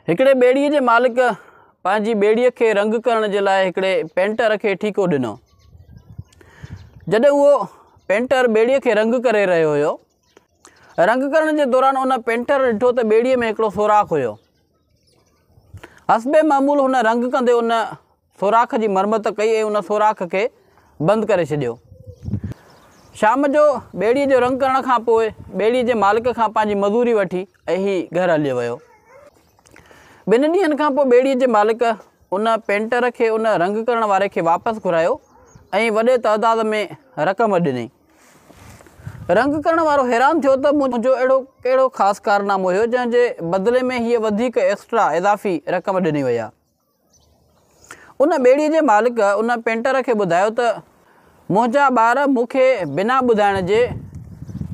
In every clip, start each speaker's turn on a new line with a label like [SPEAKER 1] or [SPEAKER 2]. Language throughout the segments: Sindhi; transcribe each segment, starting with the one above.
[SPEAKER 1] هڪڙي ٻيڙيء جي مالڪ پنهنجي ٻيڙيء کي رنگ ڪرڻ جي لاء هڪڙي پينٽر کي ٺيڪو ڏنو. جڏهن اهو پينٽر ٻيڙيء کي رنگ ڪري رهيو هيو. رنگ ڪرڻ جي دوران ان پينٽر ڏٺو ته ٻيڙيء ۾ هڪڙو سوراخ هيو. حسب معمول هن رنگ ڪندي ان سوراخ جي مرمت ڪئي ۽ ان سوراخ کي بند ڪري ڇڏيو. شام جو ٻيڙيء جو رنگ ڪرڻ کان پوء ٻيڙيء جي مالڪ کان پنهنجي مزوري وٺي ۽ هي گهر هليو ويو. ٻن ڏينهن کان پوء ٻيڙيء جي مالڪ ان پينٽر کي ان رنگ ڪرڻ واري کي واپس گهرايو ۽ وڏي تعداد ۾ رقم ڏني. رنگ ڪرڻ وارو حيران ٿيو ته منهنجو اهڙو ڪهڙو خاص ڪارنامو هيو جنهن جي بدلي ۾ هيء وڌيڪ، Extra، اضافي رقم ڏني وئي آهي. ان ٻيڙيء جي مالڪ ان پينٽر کي ٻڌايو ته، منهنجا ٻار مون کي بنا ٻڌائڻ جي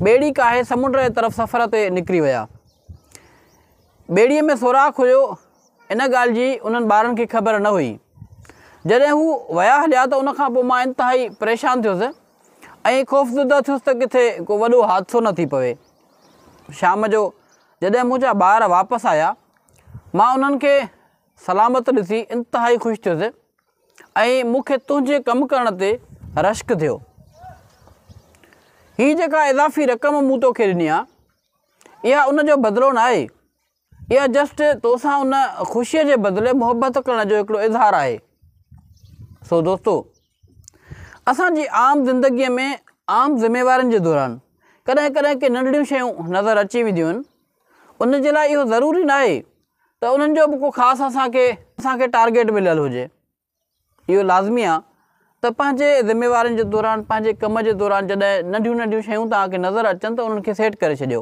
[SPEAKER 1] ٻيڙي ڪاهي سمنڊ جي طرف سفر تي نڪري ويا. ٻيڙيء ۾ سوراخ هيو، ان ڳالهه جي انهن ٻارن کي خبر نه هئي. جڏهن هو ويا هليا ته ان کان پوء مان انتهائي پريشان ٿيس ۽ خوفزده ٿيس ته ڪٿي ڪو وڏو حادثو نه ٿي پوي. شام جو جڏهن منهنجا ٻار واپس آيا مان انهن کي سلامت ڏسي انتهائي خوش ٿيس ۽ مون کي تنهنجي ڪم ڪرڻ تي رشڪ ٿيو. هي جيڪا اضافي رقم مون توکي ڏني آهي، اها ان جو بدلو نه آهي. اها جسٽ تو سان ان خوشيء جي بدلي محبت ڪرڻ جو هڪڙو اظهار آهي. سو دوستو! اسان جي عام زندگيء ۾ عام ذميوارين جي دوران ڪڏهن ڪڏهن ڪي ننڍڙيون شيون نظر اچي وينديون آهن، ان جي لاء اهو ضروري ناهي ته انهن جو به ڪو خاص اسان کي اسان کي ٽارگيٽ مليل هجي. اهو لازمي آ ته پنهنجي ذميوارين جي دوران پنهنجي ڪم جي دوران جڏهن ننڍيون ننڍيون شيون توهان کي نظر اچن ته انهن کي سيٽ ڪري ڇڏيو.